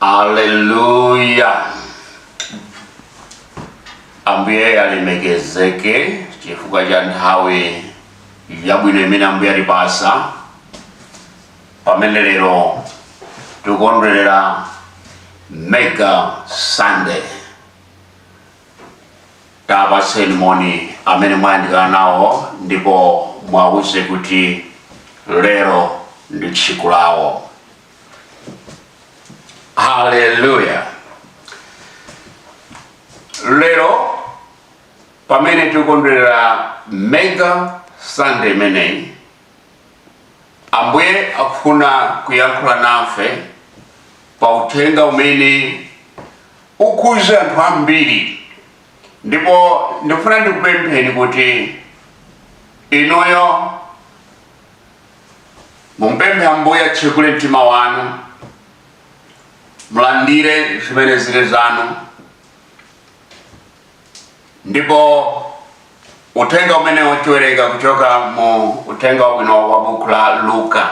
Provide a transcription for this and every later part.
Aleluya. Ambuye alemekezeke chifukwa cha nthawi yabwino imene Ambuye atipatsa pamene lero tikondwerera mega sunday tapatseni moni amene mwayandikana nawo ndipo mwawuze kuti lero ndi tsiku lawo haleluya lero pamene tikondwerera mega sunday imeneyi ambuye akufuna kuyankhula nafe pa uthenga umene ukhudze anthu ambiri ndipo ndifuna ndikupempheni kuti inuyo mumpemphe ambuye atsekule mtima wanu mulandire zimene zili zanu ndipo uthenga umene tiwerenga kuchoka mu uthenga wabwino wa buku la luka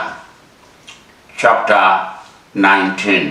chapter 19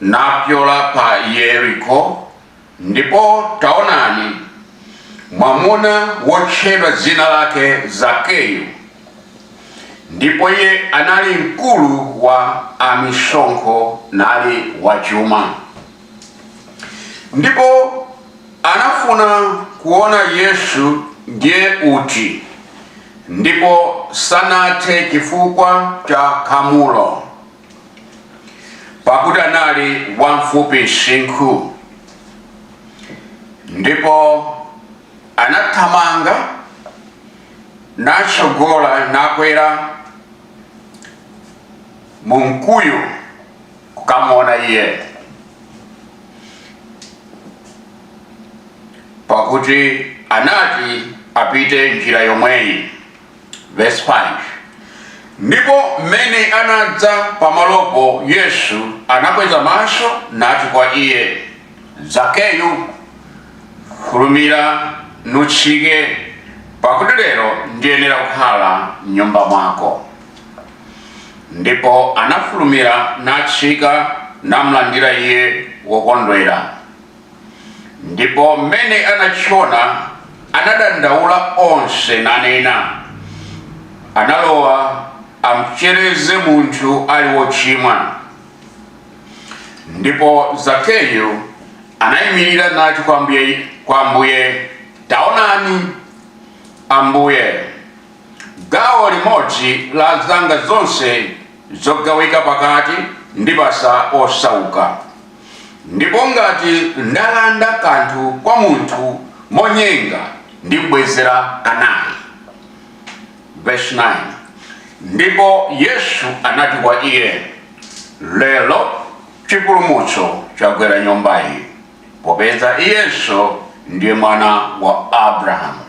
napyola pa Yeriko, ndipo taonani, mwamuna wotchedwa dzina lake Zakeyu, ndipo iye anali mkulu wa amisonkho nali wachuma, ndipo anafuna kuona Yesu ndiye uti, ndipo sanathe chifukwa cha khamulo. pakuti anali wamfupi msinkhu ndipo anathamanga natsogola nakwera mu mkuyu kukamuona iye pakuti anati apite njira yomweyi Verse 5. Ndipo mmene anadza pamalopo Yesu anakweza maso nati kwa iye, Zakeyu, fulumira nutsike, pakuti lero ndiyenera kukhala m'nyumba mwako. Ndipo anafulumira natsika namlandira iye wokondwera. Ndipo m'mene anachiona, anadandaula onse, nanena, Analowa amchereze munthu ali wochimwa. Ndipo Zakeyu anaimirira nati kwa Ambuye, taonani, Ambuye, gawo limodzi la zanga zonse zogawika pakati ndipasa osauka. Ndipo ngati ndalanda kanthu kwa munthu monyenga, ndibwezera kanayi. Vesi 9 Ndipo Yesu anati kwa iye, Lero chipulumutso chagwera nyumba iyi, popeza iyenso ndiye mwana wa Abrahamu.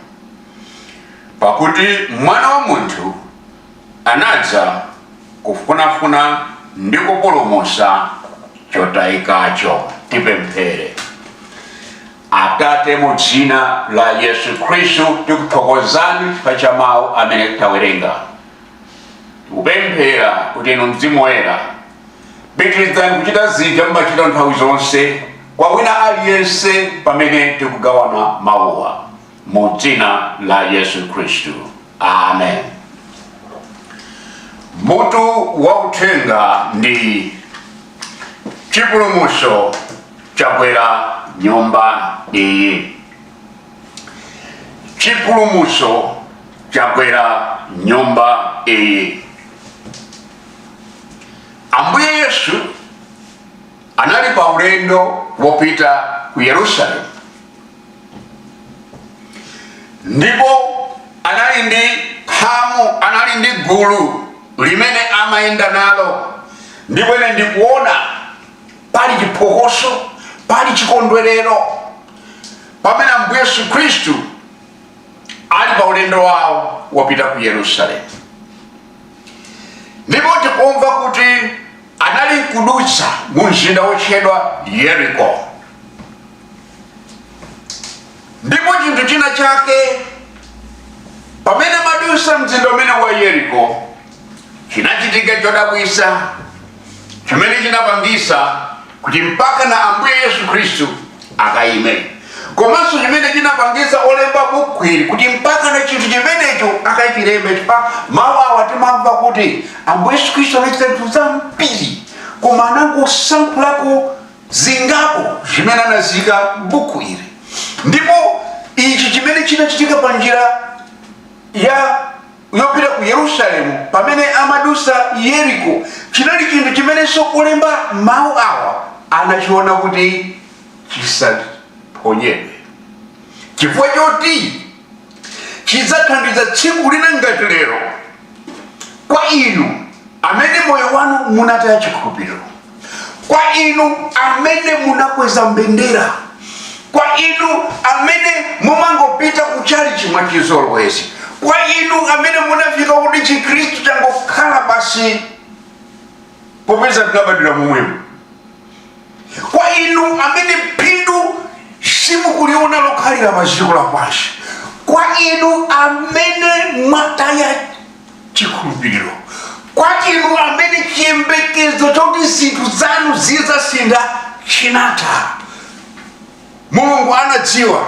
Pakuti mwana wa munthu anadza kufunafuna ndi kupulumusa chotayikacho tipemphere atate mu dzina la yesu khristu tikuthokozani chifukwa cha mawu amene tawerenga tikupemphera kuti inu mzimu woyera pitirizani kuchita zija mumachita nthawi zonse kwa wina aliyense pamene tikugawana mawuwa mu dzina la yesu khristu amen mutu wa uthenga ndi chipulumutso chagwera nyumba iyi chipulumutso chagwera nyumba iyi ambuye yesu anali pa ulendo wopita ku yerusalemu ndipo anali ndi khamu anali ndi gulu limene amayenda nalo ndipo ine ndikuona pali chiphokoso pali chikondwerero pamene ambuye yesu khristu ali pa ulendo wawo wopita ku yerusalemu ndipo tikumva kuti anali kudutsa mu mzinda wotchedwa yeriko ndipo chinthu china chake pamene amadusa mzinda umenewu wa yeriko chinachitika chodabwisa chimene chinapangisa kuti mpakana ambuye yesu khristu akayime komanso chimene chinapangisa olemba buku ili kuti mpakana chinthu chimenecho akachilembe chifukwa mawu awa timamva kuti ambuye yesu khristu anachita zinthu zambiri koma anangosankhulako zingapo zimene anazika m'buku ili ndipo ichi chimene chinachitika pa njira yopita ku yerusalemu pamene amadusa yeriko chinali chinthu chimenenso olemba mawu awa anachiona kuti chisaphonyedwe chifukwa choti chidzathandiza tsiku lina ngati lero kwa inu amene moyo wanu munataya chikhulupiriro kwa inu amene munakweza mbendera kwa inu amene mumangopita kuchalichi mwa chizolowezi kwa inu amene munafika kuti chikhristu changokhala basi popeza tinabadwira momwemo kwa inu amene phindu simukuliona lokhalira pa dziko lapansi kwa inu amene mwataya chikhulupiriro kwa inu amene chiyembekezo choti zinthu zanu zizasintha chinatha Mulungu anadziwa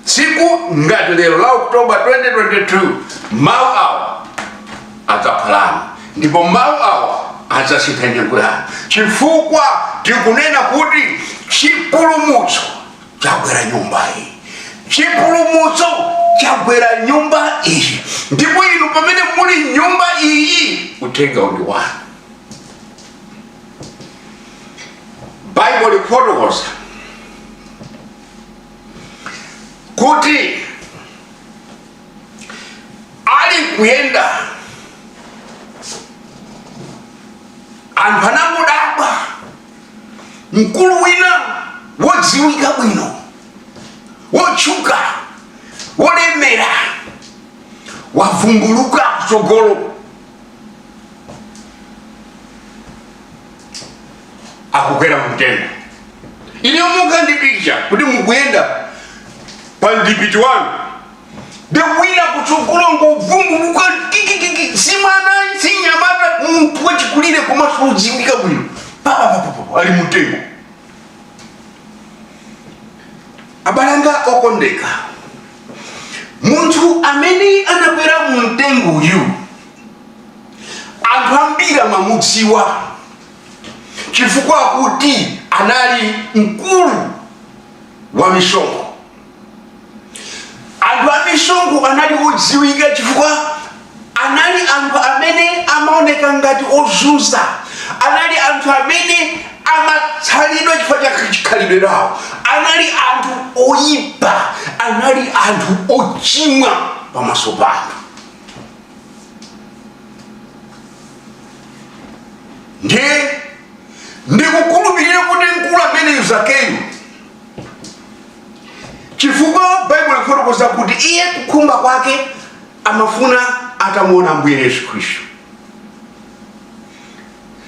tsiku ngati lero la October 2022 mawu awa adzakhala anu ndipo mawu awa adzasintha nyengo yanu chifukwa tikunena kuti chipulumutso chagwera nyumba iyi chipulumutso chagwera nyumba iyi ndipo inu pamene muli nyumba iyi uthengawu ndi wanu baibulo likufotokoza kuti ali kuyenda anthu anangodabwa mkulu wina wodziwika bwino wotchuka wolemera wavumbuluka kutsogolo akukwera mumtengo ine mukhale ndi picture kuti mukuyenda pamdipiti wanu nde wina kutsogolo kungovumbuluka kikikiki simwana simnyamata munthu wachikulire komanso wodziwika bwino papapapapa ali mumtengo Abale anga okondeka, munthu amene anakwera mu mtengoyu anthu ambiri amamudziwa chifukwa choti anali mkulu wa misonkho. Anthu a misonkho anali odziwika chifukwa anali anthu amene amaoneka ngati ozunza anali anthu amene amatsalidwa chifukwa cha chikhalidwe chawo anali anthu oyipa anali anthu ochimwa pamaso pa anthu ndiye ndikukhulupirira kuti mkulu ameneyu zakeyu chifukwa baibulo lifotokoza kuti iye kukhumba kwake amafuna atamuona ambuye yesu khristu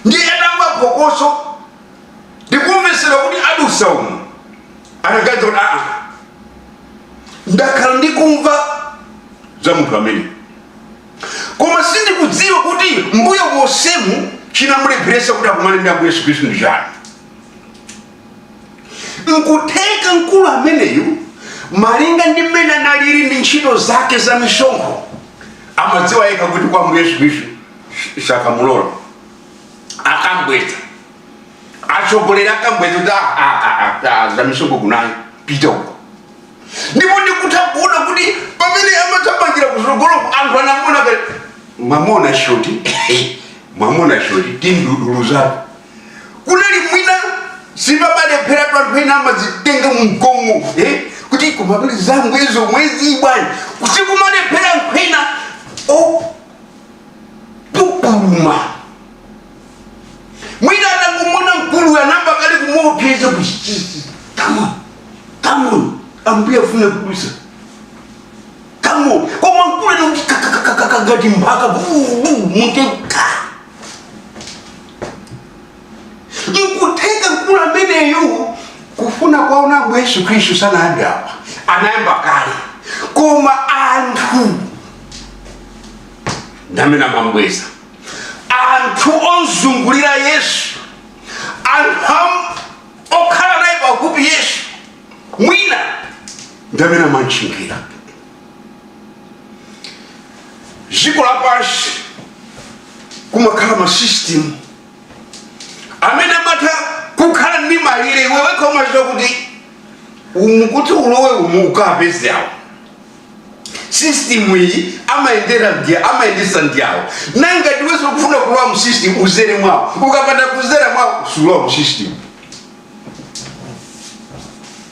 ndiye atamva phokoso ndikumvesera kuti adusa umu anaganiza kuti aa ndakhala ndikumva za munthu ameneyu koma sindikudziwa kuti mbuyo monsemu chinamulepheresa kuti akumane ndi ambuye yesu khristu ndi chani nkutheka mkulu ameneyu malinga ndi mmene analili ndi ntchito zake za misonkho amadziwa yekha kuti kwa mbuye yesu khristu sakamulola akam'bweza atsogoleri akam'bweza kuti "Ah, ah, ah, ah, ah, za misonkho kunayo pita uko ndipo ndikutha kuona kuti pamene amathamangira kutsogoloko anthu anamona kale mwamona shoti mwamona shoti timduduluzatu kunali mwina sipamalephera anthu ena amazitenga mu ngongole eh? kuti kumabili zangu izo mwezi bwana kusikumalephera ena opupuluma mwina atangomona mkulu anayamba kale kumuopseza kuchichizi kama kama ambuye afuna kudusa kama koma mkulu anakuti kakakakakakati mpaka mumtengo nkutheka mkulu ameneyu kufuna kwaona ambuye yesu khristu sanayambe apa anayamba kale koma anthu ndamene amam'bweza anthu ozungulira yesu anthu am- okhala naye pafupi yesu mwina ndamene amantchingira dziko lapansi kumakhala masystem amene amatha kukhala ndi malire iwe wekha umachita kuti umu kuti ulowe umu ukapeze awo system iyi amayendera ndi amayendetsa ndi awo ndiye ngati iwenso ukufuna kulowa mu system udzere mwawo ukapanda kudzera mwawo sulowa mu system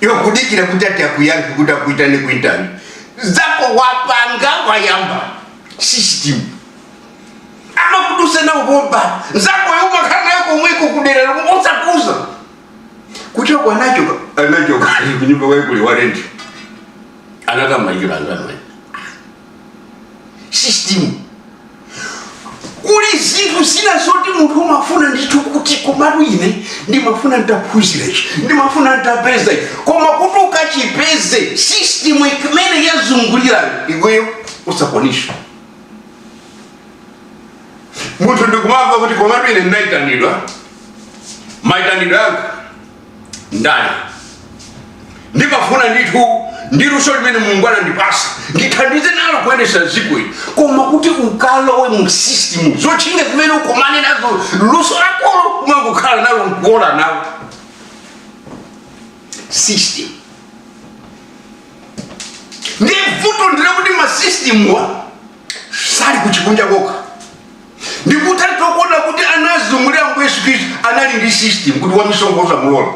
iwe kudikira kuti ati akuyankhe kuti akuitane ku interview zako apanga ayamba system amakudusena ubomba zako yeumakhala nayo komweko kudera lomwe osakuuza kuti ako anachoka anachoka kunyumba kwaikuli warendi anakamayikira angamai system kuli zinthu zina zoti munthu umafuna ndithu kuti komatu ine ndimafuna nditaphunzira ichi ndimafuna nditapeza ichi koma kuti ukachipeze system imene yazungulirayo iweyo usakwanisha munthu ndikumamva kuti komatu ine ndinayitanidwa mayitanidwe anga ndani ndimafuna ndithu ndi luso limene mulungu anandipasa ndithandize nalo kuyendesa ziko ili koma kuti ukalowe mu system zotchinga zimene ukomane nazo luso lakolo kumangokhala nalo nkuola nalo system ndiye vuto ndilakuti masystemwa sali kuchikunja kokha ndikutha kuona kuti anazungulira mbuye yesu khristu anali ndi system kuti wamisonkho usamulola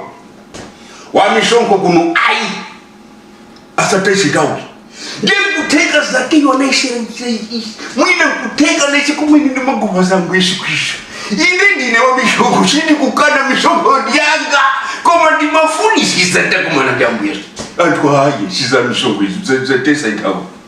wamisonkho kuno ayi asatesitauli ndiye kutheka zakeyo anayesesa mwina kutheka lesi kumene ndimaguva zangu yesu khristu ine ndine wamisonkho sindikukana misonkho yanga koma ndimafunisisa nditakumana ndi ambuye yesu anthu ayi sizamisonkho izi zatesa nthawi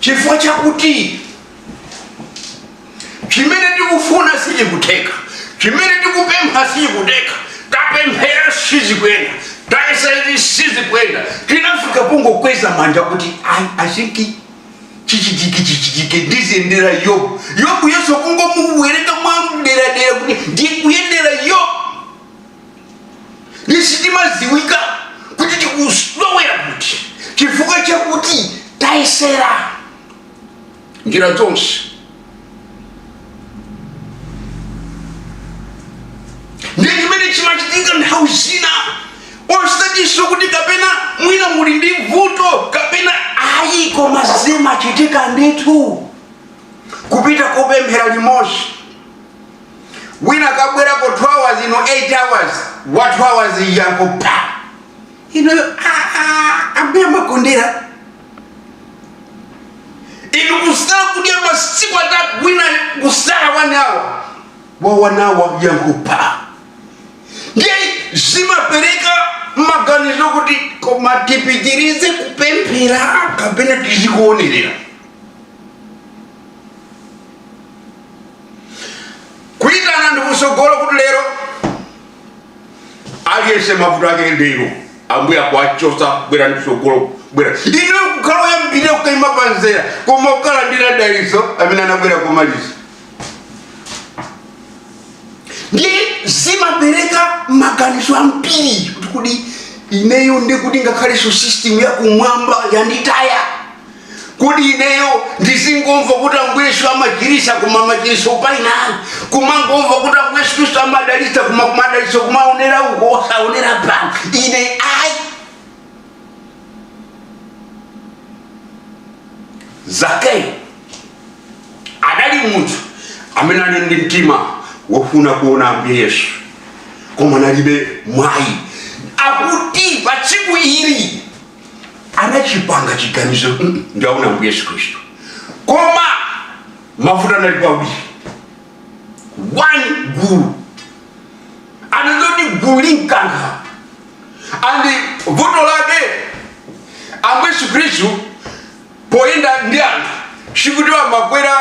chifukwa chakuti chimene tikufuna sichikutheka chimene tikupempha sichikutheka tapemphera sizikuyenda tayesa izi sizikuyenda tinafika pongokweza manja kuti i think chichitike chichitike ndiziyendera yobu yobuyonso kungomuwerenga mwamderadera kuti ndikuyendera yobu ndiye sitimadziwika kuti tikulowera kuti chifukwa chakuti tayesera njira zonse ndi chimene chimachitika nthawi zina osatiso kuti kapena mwina muli ndi vuto kapena ayi koma zimachitika ndithu kupita kopemphera limodzi wina kabwerako 2 hours inu 8 hours wa 2 hours yankho pa inuyo ambuye amakondera inu kusala kudya masiku atatu wina kusala 1 hour wa 1 hour yankho pa ndiye zimapereka maganizo kuti koma tipitirize kupemphera kapena tizikuonerera kuitanani kusogolo kuti lero aliyense mavuto ake lero ambuye akuwachosa bwerani kusogolo bwerani inu kukhala oyambirira kukaima pa nzere koma okalandira daliso amene anabwera komaliza ndiye zimapereka maganizo ambiri kuti kuti ineyo ndiye kuti ngakhalenso system yakumwamba yanditaya Kodi ineyo ndizingomva kuti Ambuye Yesu amachiritsa koma machiritso paina, kumangomva kuti Ambuye Yesu Kristu amadalitsa koma kumadalitso kumaonera uko osaonera pano? Ine ayi. Zakeyo adali munthu amene anali ndi mtima wofuna kuona Ambuye Yesu koma analibe mwayi akuti pa tsiku ili anachipanga chiganizo "Mm, ndiwaona ambuye yesu khristu koma mavuto analipo awiri one gulu anazoti gulu limkankha andi vuto lake ambuye yesu khristu poyenda ndi anthu sikuti amakwera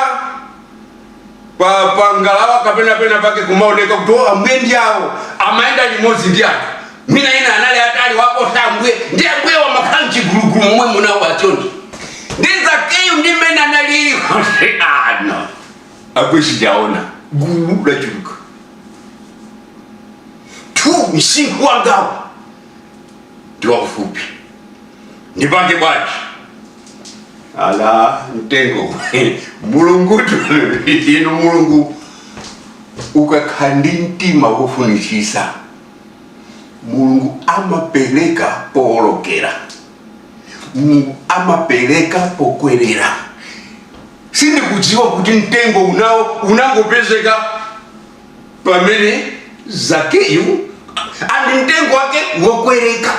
pa pa ngalawa kapena pena pake kumaoneka kuti o ambuye ndi awo amayenda limodzi ndi anthu mwina ena anali atali waposa ambuye ndiye ambuye amakhala mchigulugulu momwe munawo achoncho ndiye zakeyu ndi mmene analili konse ano ambuye sindiwaona gulu lachulukatu msinkhu wangawu ndi waufupi ndipange bwanji ala mtengo mulungu inu mulungu ukakhala ndi mtima wofunitsitsa mulungu amapereka powolokera mulungu amapereka pokwerera sindikudziwa kuti mtengo unawo unangopezeka pamene zakeyu andi mtengo wake wokwereka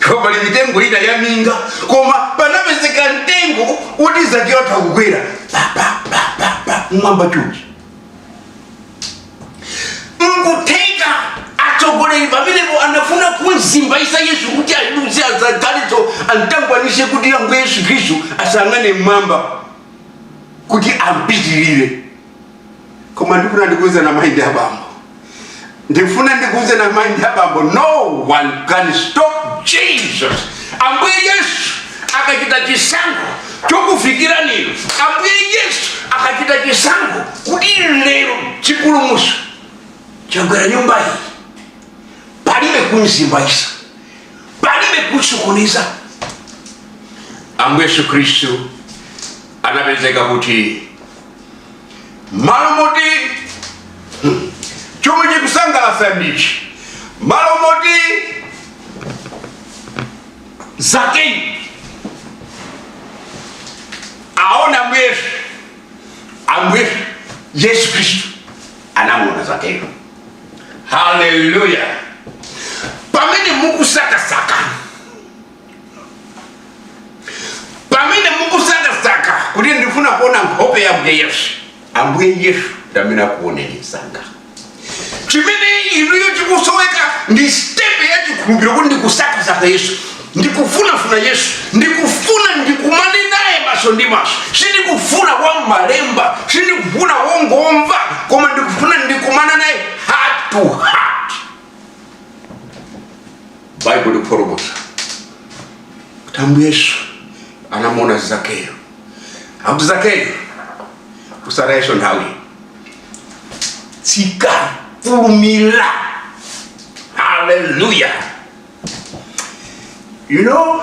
Ndipo pali mitengo ina ya minga, koma panapezeka mtengo woti Zakeyu atha kukwera pa pa pa pa pa mmwamba chonchi. Nkutheka atsogoleri pamenepo anafuna kumzimbaitsa Yesu kuti aduze azagalitso amtangwanitse kuti Ambuye Yesu Khristu asang'ane mmwamba kuti ampitirire. koma ndikufuna ndikuuzeni amayi ndi abambo ndikufuna ndikuuzeni amayi ndi abambo no one can stop jesus ambuye yesu akachita chisankho chokufikirani inu ambuye yesu akachita chisankho kuti lero chipulumutso chagwera nyumba iyi palibe kumzimbaitsa palibe kusokoneza ambuye yesu khristu anapezeka kuti m'malo moti hmm, chomwe chikusangalatsa ndi ichi m'malo moti zakeyo aone ambuye yesu ambuye yesu yesu khristu anamuona zakeyo haleluya pamene mukusakasaka pamene mukusakasaka kuti ndifuna kuona nkhope ya mbuye yesu ambuye yesu ndamene akuoneni msanga chimene inuyo chikusoweka ndi stepe ya chikhulupiriro kuti ndikusakasaka yesu ndikufunafuna yesu ndikufuna ndikumane naye maso ndi maso sindikufuna wa malemba sindikufuna wongomva koma ndikufuna ndikumana naye heart to heart baibulo likufotokoza kuti ambuye yesu anamuona zakeyo akuti zakeyo kusaka yesu nthawi tsika fulumira haleluya you know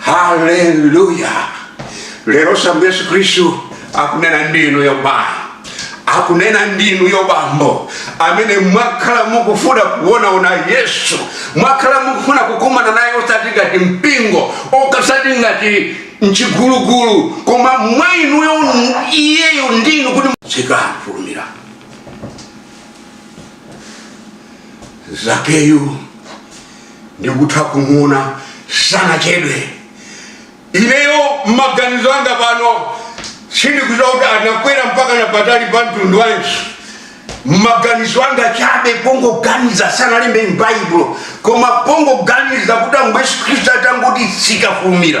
haleluya leroso ambuye yesu khristu akunena ndi inuyo mayi akunena ndi inuyo bambo amene mwakhala mukufuna kuonaona yesu mwakhala mukufuna kukumana naye osati ngati mpingo osati ngati mchigulugulu koma mwa inuyo iyeyo ndi inu kuti tsika fulumira zakeyu ndikutha kumuona sanachedwe ineyo maganizo anga pano sindikudziwa kuti anakwera mpaka na patali pa mtunda wanji maganizo anga chabe pongoganiza sanalembe m'baibulo koma pongoganiza kuti ambuye yesu khristu atangoti tsika fulumira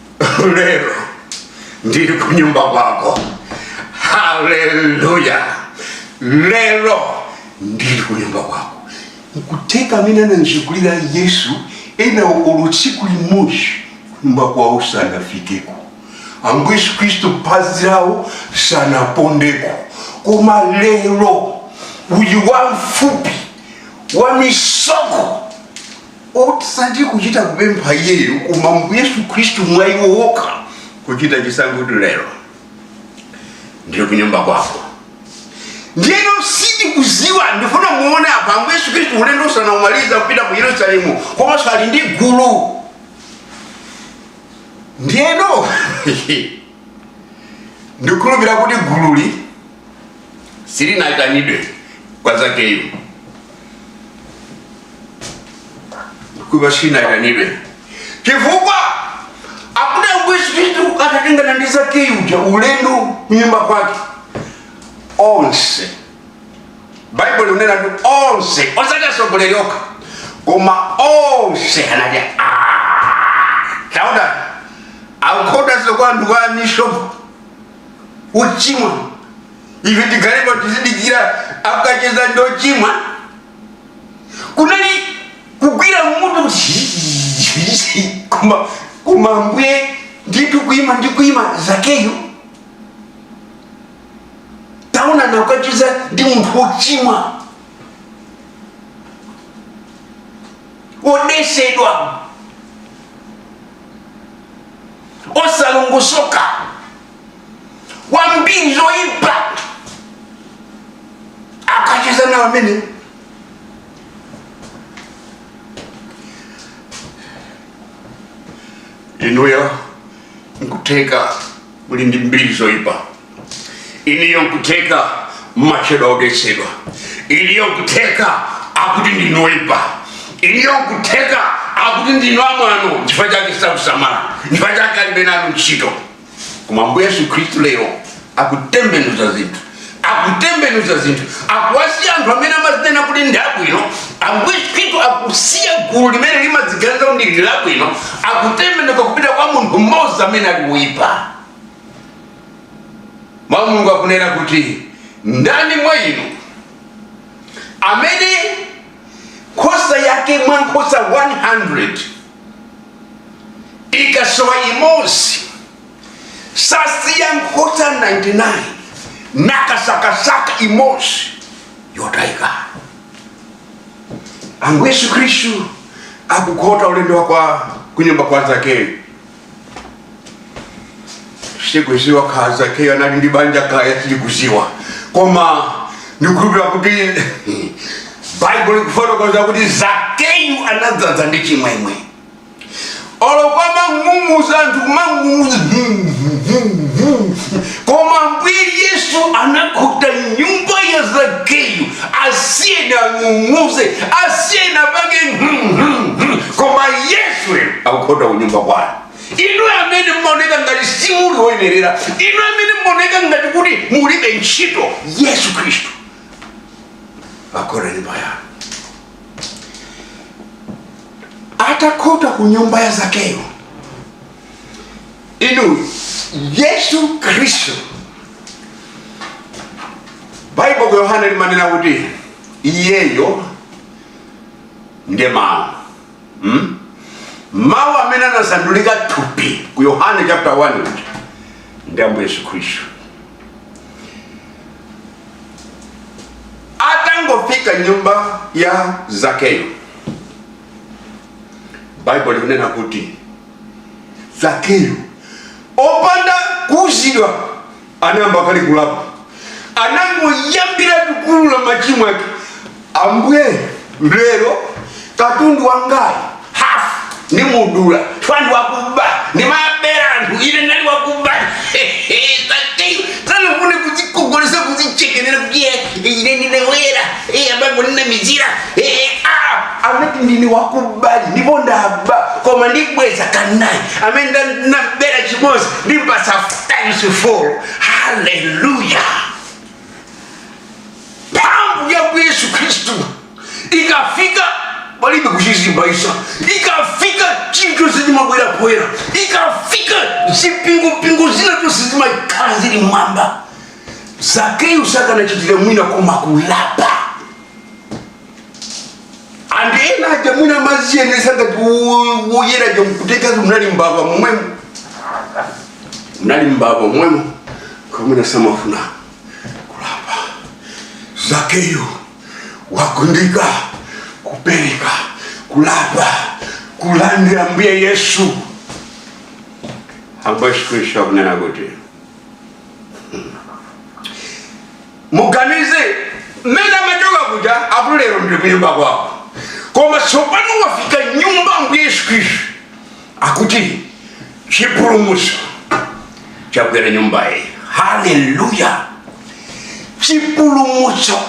lero ndili ku nyumba kwako haleluya lero ndili ku nyumba kwako nkutheka amene anamzungulira yesu ena olo tsiku limodzi kunyumba kwawo sanafikeko ambuye yesu khristu phazi lawo sanapondeko koma lero uyu wamfupi wamisonkho Osati kuchita kupempha iyeyo, koma Ambuye Yesu Khristu mwa iwo wokha, kuchita chisankho kuti lero ndili kunyumba kwako. Ndiyeno sindikuziwa ndifuna muone apa Ambuye Yesu Khristu ulendo sanamalize kupita ku Yerusalemu komanso ali ndi gulu. Ndiyeno ndikukhulupira kuti gululi silinayitanidwe kwa zakeyo kuja silinayitanidwe chifukwa akuti Khristu atatengana ndi zakeyo uja ulendo kunyumba kwake onse baibulo likunena kuti onse osati atsogoleri okha koma onse anati "Ah, taonani akukhotaso kwa anthu kwa amisonkho ochimwa ife tikhalepo tizidikira akacheza ndi ochimwa kunali kugwira mutu koma ambuye ndithu kuima zakeyo taonani akukacheza ndi munthu wochimwa wodetsedwa osalongosoka wambiri zoyipa akacheza naye amene inuyo nkutheka muli ndi mbiri zoyipa inuyo nkutheka mmatchedwa odetsedwa inuyo nkutheka akuti ndinu oyipa inuyo nkutheka akuti ndinu amwano chifukwa chake sakusamalani chifukwa chake alibe nanu ntchito koma ambuye yesu khristu lero akutembenuza zinthu akutembenuza zinthu akuwasiya anthu amene amazinena kuti ndi abwino yesu khristu akusiya gulu limene limadziganiza kuti ndi labwino akutembenuka kupita kwa munthu mmodzi amene ali woyipa mawu a mulungu akunena kuti ndani mwa inu amene nkhosa yake mwa nkhosa 100 ikasowa imodzi sasiya nkhosa 99 nakasakasaka imodzi yotayika ambuye yesu khristu akukhota ulendo wake wa kunyumba kwa zakeyo sindikudziwa kaya zakeyo anali ndi banja kaya sindikudziwa koma ndikukhulupirira kuti baibulo likufotokoza kuti zakeyo anadzadza ndi chimwemwe olo kumang'ung'uza anthu kumang'ung'uza koma ambuye yesu anakhota nyumba ya zakeyo asiyeni ang'ung'uze asiyeni apange koma yesu akukhota kunyumba kwanu inu amene mmaoneka ngati simuli woyenerera inu amene mmaoneka ngati kuti mulibe ntchito yesu khristu akhota nyumba yanu atakhota ku nyumba ya zakeyo inu yesu khristu baibulo ku yohane limanena kuti iyeyo ndiye mawu hmm? mawu amene anasandulika thupi ku yohane chapter 1 uja ndi ambuye yesu khristu atangofika m'nyumba ya zakeyo baibulo likunena kuti zakeyo osauzidwa anayamba kale kulapa anangoyambiratu kuulula machimo ake ambuye lero katundu wangayu half nimudulatu ndine wakuba nimabera anthu ine nali wakuba sanafune kuzikogolesa kuzichekenera kuti eh, ine ninabera eh, abapo ninamizira eh, ah, amati ndini wakubadi ndipo ndaba koma ndibweza kanayi amene nda- nabera chimozi ndimpasa times four haleluya mphamvu ya yesu khristu ikafika palibe kuchizimbayitsa ikafika chinthu chonse chimabwera poyera ikafika zipingupingu zina zonse zimakhala zili m'mwamba zakeyo sakanachitira mwina koma kulapa anthu ena aja mwina amaziwonesa ngati woyera aja mkutheka munali mbava momwemo munali mbava momwemo koma mwina samafuna kulapa zakeyo wafunika kupereka kulapa kulandira mbuye yesu ambuye yesu khristu akunena kuti muganize mmene amachoka kuja akuti lero ndiri kunyumba kwako koma tsopano wafika m'nyumba mbuye yesu khristu akuti chipulumutso chagwera nyumbayi haleluya chipulumutso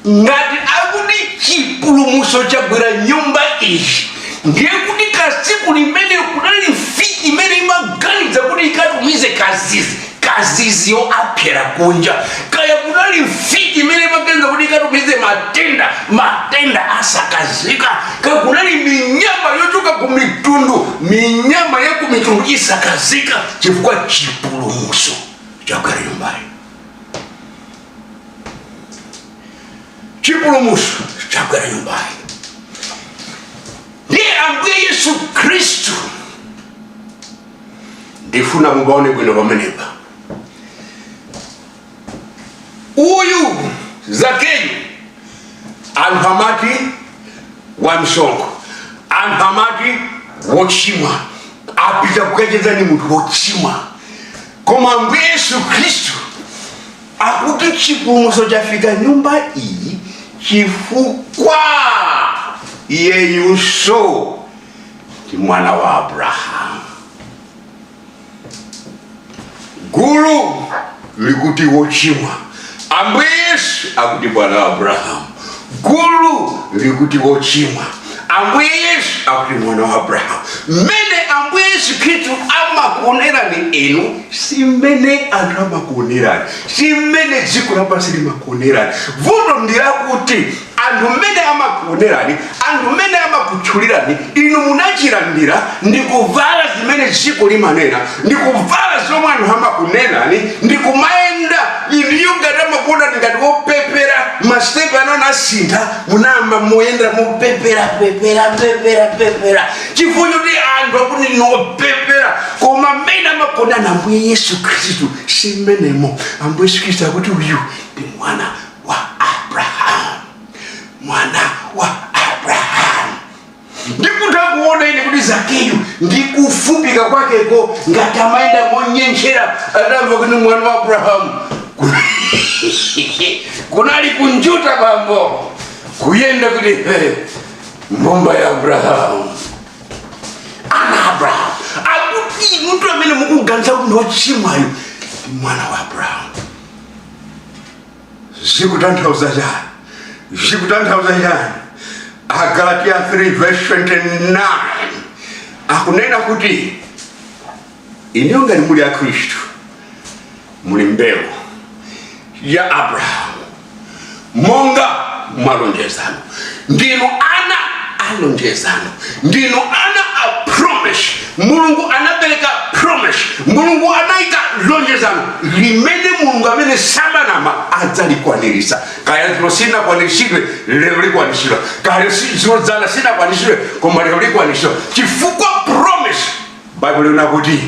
ngati akuti chipulumutso chagwera nyumba iyi ndiye kuti kaya usiku umene kunali mfiti imene imaganiza kuti ikatumize kazizi kaziziyo athera kunja kaya kunali mfiti imene imaganiza kuti ikatumize matenda matenda asakafika kaya kunali minyama yochoka ku mitundu minyama ya ku mitundu isakafika chifukwa chipulumutso chagwera nyumbayi chipulumutso chagwera nyumbayi ndiye ambuye yesu khristu ndifuna mupaone bwino pamenepa uyu zakeyo anthu amati wamsonkho anthu amati wochimwa apita kukacheza ni munthu wochimwa koma ambuye yesu khristu akuti chipulumutso chafika nyumba iyi chifukwa iyeyunso ndi mwana wa abrahamu gulu likuti wochimwa ambuye yesu akuti mwana wa abrahamu gulu likuti wochimwa ambuye yesu akuti mwana wa abrahamu mmene ambuye yesu khristu amakuonerani inu si mmene anthu amakuonerani si mmene dziko lapansi limakuonerani vuto ndi lakuti anthu mmene amakuonerani anthu mmene amakutchulirani inu munachilandira ndi kuvala zimene dziko limanena ndi kuvala zomwe anthu amakunenani ndi kumayenda inuyo ngati amakuonani ngati wopepera masitepe ano anasintha munayamba kumayenda mopepera pepera pepera pepera chifukwa choti anthu akuti inu wopepera koma mmene amakuonani ambuye yesu khristu si mmenemo ambuye yesu khristu akuti uyu ndi mwana wa abrahamu mwana wa abrahamu ndikutha kuona ine kuti zakeyu ndi kufupika kwakeko ngati amayenda monyenjera atamva kuti mwana wa abrahamu kunali kunjuta bambo kuyenda kuti "Hey, mbumba ya abrahamu ana abrahamu akuti munthu amene mukuganiza kuti ndi wochimwayo ndi mwana wa abrahamu zikutanthauza chani zikutanthauza chani agalatiya 3 verse 29 akunena kuti inuyo ngati muli a khristu muli mbewu ya abrahamu monga mwalonjezano ndinu ana a lonjezano ndinu ana a promise mulungu anapereka promise mulungu anayika lonjezano limene mulungu amene samanama adzalikwaniritsa kaya dzulo sinakwaniritsidwe lero likwanitsidwa kaya si- dzulo dzana sinakwaniritsidwe koma lero likwanitsidwa chifukwa promise baibulo linena kuti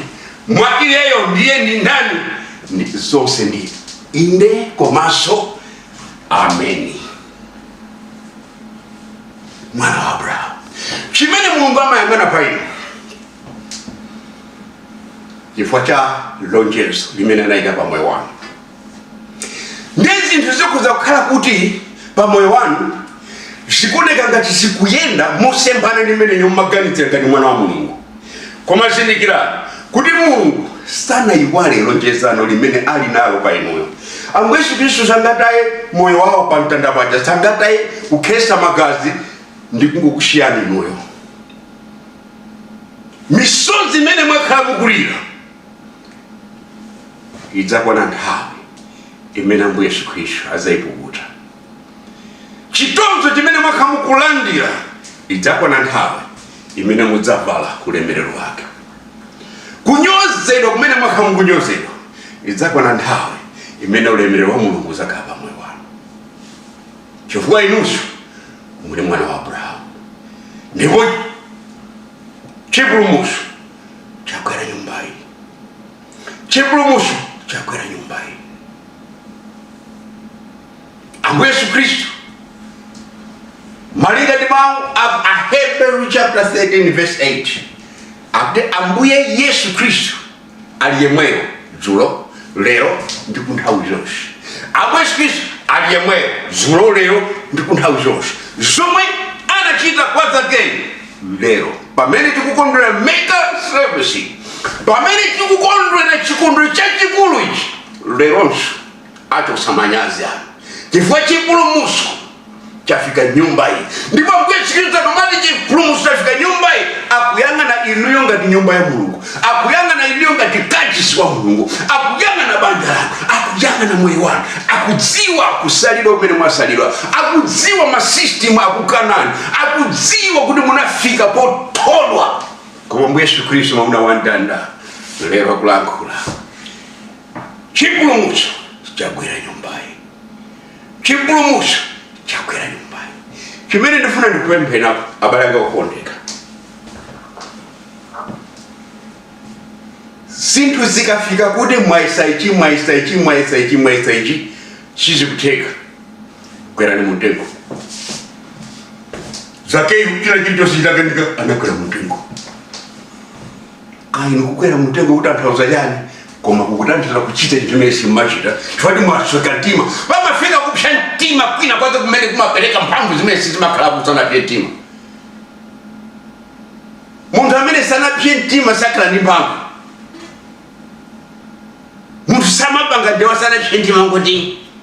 mwa iyeyo ndiye ndi ndani ndi zonse ndi inde komanso ameni mwana wa abrahamu chimene mulungu amayang'ana pa inu chifukwa cha lonjezo limene anayika pa moyo wanu ndi zinthu zikhoza kukhala kuti pa moyo wanu zikuoneka ngati zikuyenda mosemphana ndi mmene mumaganizira ngati mwana wa mulungu Koma zindikirani kuti Mulungu sanayiwale lonjezano limene ali nalo pa inuyo. Ambuye Yesu Kristu sangataye moyo wawo pa mtanda paja, sangataye kukhesa magazi ndi kungokusiyani inuyo. Misozi imene mwakhala mukulira idzakwana nthawi imene Ambuye Yesu Kristu adzayipukuta. chitonzo chimene mwakhala mukulandira idzakwana nthawi imene mudzavala ulemerero wake kunyozedwa kumene mwakhala mukunyozedwa idzakwana nthawi imene ulemerero wa mulungu udzakhala pa moyo wanu chifukwa inunso muli mwana wa abrahamu ndipo chipulumutso chagwera nyumba iyi chipulumutso chagwera nyumba iyi ambuye yesu khristu malinga ndi mawu a a hebrews chapter 13 verse 8 akuti ambuye yesu khristu ali yemweyo dzulo lero ndi ku nthawi zonse ambuye yesu khristu ali yemweyo dzulo lero ndi ku nthawi zonse zomwe anachita kwa zakeyu lero pamene tikukondwera mega service pamene tikukondwera chikondwerero chachikulu ichi leronso achotsa manyazi anu chifukwa chipulumutso chafika nyumba iyi ndipo ambuye yesu khristu akamati chipulumutso chafika nyumba iyi akuyang'ana inuyo ngati nyumba ya mulungu akuyang'ana inuyo ngati kachisi wa mulungu akuyang'ana banja lanu akuyang'ana moyo wanu akudziwa kusalidwa kumene mwasalidwa akudziwa masystem akukanani akudziwa kuti munafika pothodwa koma ambuye yesu khristu mwamuna wa mtanda lero akulankhula chipulumutso chagwera nyumbayi chipulumutso chagwera nyumbayi chimene ndifuna ndikupempheni apo abale anga okondeka zinthu zikafika kuti mwayesa ichi mwayesa ichi mwayesa ichi mwayesa ichi sizikutheka kwerani mumtengo zakeyu china chilichonse chitakanika anakwera mumtengo kaya inu kukwera mumtengo kutanthauza chani koma kukutanthauza kuchita chinthu chimene simumachita chifukwa mwasweka mtima pamafika kupsa mtima kwina kwake kumene kumapereka mphamvu zimene sizimakhalako usanapse mtima munthu amene sanapse mtima sakhala ndi mphamvu munthu samapanga ndewa asanapse mtima ngoti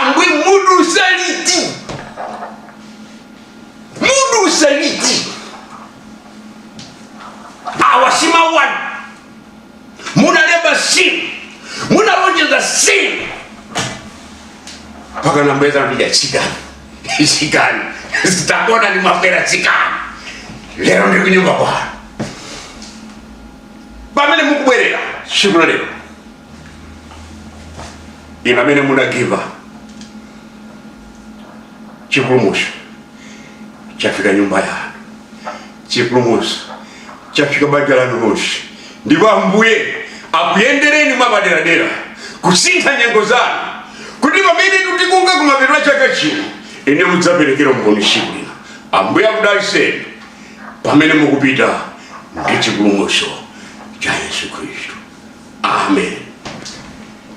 ambuye mudutsa liti mudutsa liti awa si mawu anu munalemba si inu munalonjeza si inu mpaka nambeza ndija chikani chikani zitakona ni mafera chikani lero ndi kunyumba kwanu pamene mukubwerera tsiku la lero inu amene mudagiva chipulumutso chafika nyumba yanu chipulumutso chafika banja lanu lonse ndipo ambuye akuyendereni mwapaderadera kusintha nyengo zanu kuti pamene tikufika kumapeto a chaka chino inu mudzaperekera umboni tsiku lina ambuye akudaliseni pamene mukupita ndi chipulumutso cha yesu khristu amen